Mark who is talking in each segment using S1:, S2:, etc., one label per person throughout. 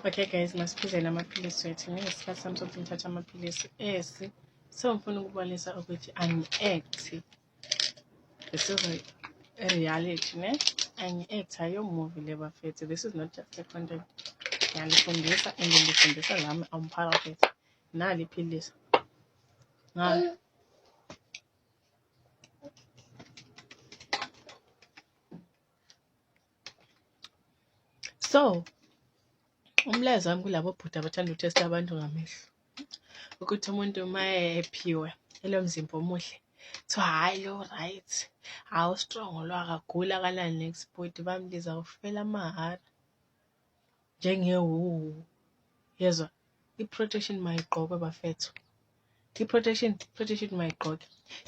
S1: okay guys masiphuzele amaphilisi wethu ngesikhathi sami sokuthi ngithatha amaphilisi esi so ngifuna ukubonisa ukuthi angi-acti this is a reality ne angi-acti ayomuvi le bafethu this is not just a content ngiyalifundisa and ngilifundisa lami awumphakathi nali iphilisi ngalo so umlayezo wami kulabo bhuti abathanda uthesta abantu ngamehlo ukuthi umuntu uma ephiwe elo mzimba omuhle so hhayi lo right hawu strong lo akagula akalani next bhuti bambiza kufela amahara njengewuwu yezwa i-protection mayigqokwe bafethu i-protection protection mayigqoke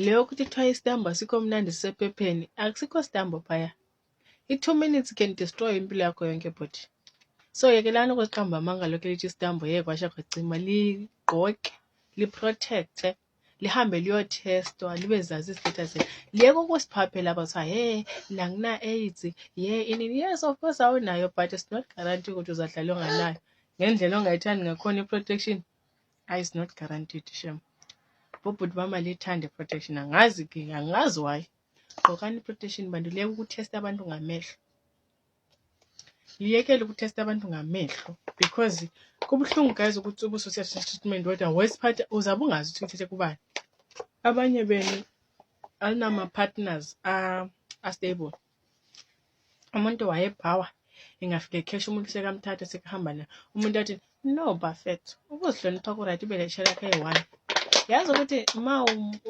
S1: le yokuthi kuthiwa isitambo asikho mnandi sisephepheni akusikho sitambo phaya I-two minutes can destroy impilo yakho yonke bhuti. So yekelani ukuziqamba amanga lokhu elithi isitambo yeke kwasha kwacima ligqoke liprotecte lihambe liyothestwa libe zazi izihlitha zenu liyeke ukusiphaphela aba kuthiwa he la ngina-aids ye inini yes of course awunayo but it's not guarantee ukuthi uzadlala onganayo ngendlela ongayithandi ngakhona i-protection ayi it's not guaranteed shem bobhuti bama lithande i-protection angazi-ke angazi why gqokani protection bantu liyeke ukuthesta abantu ngamehlo liyekele ukuthesta abantu ngamehlo because kubuhlungu guys ukuthi ubuso siyathatha treatment kodwa worst part uzabe ungazi ukuthi uthethe kubani abanye benu alinama-partners astable umuntu wayebhawa engafike khesha umuntu sekamthatha sekuhamba naye umuntu athi no bafet ukuzihlonipha kuright ube leshe lakho eyi-one yazi ukuthi uma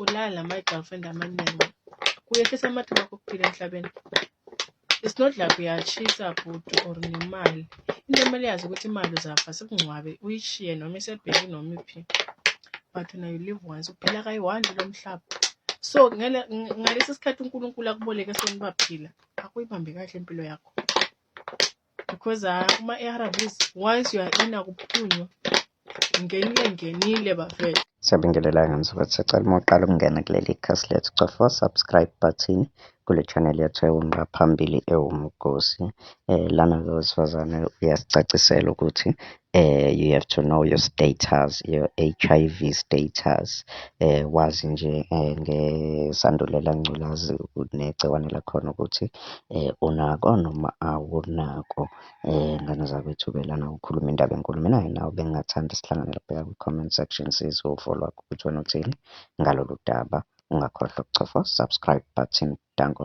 S1: ulala ama-girlfriend amaningi kuyehlisa amathuba okuphila emhlabeni it's not like uyashisa bhuti or nemali into kumele yazi ukuthi imali uzafa sikungcwabe uyishiye noma isebheki noma iphi but na you live once uphila kayi-one lo mhlaba so ngalesi sikhathi unkulunkulu akuboleke sona ubaphila akuyibambe kahle impilo yakho because ah, kuma-arvs once you are in akuphunywa Ngenile ngenile bafethu. Siyabingelela ngani sokuthi
S2: sicela uma uqala ukungena kuleli khasi lethu cofa subscribe button kule channel yethu ewunqa phambili ewumgosi eh lana ke wesifazane uyasicacisela ukuthi eh you have to know your status your HIV status eh wazi nje eh, ngesandulela ngculazi negciwane lakhona ukuthi eh unako noma awunako Ngane zakwethu ke lana ukhuluma indaba enkulu. Mina nginawe bengingathanda sihlangane laphaya kwi-comment section sizwe uvo lwakho ukuthi wena uthini ngalolu daba. Ungakhohlwa ukucofa subscribe button. Danko.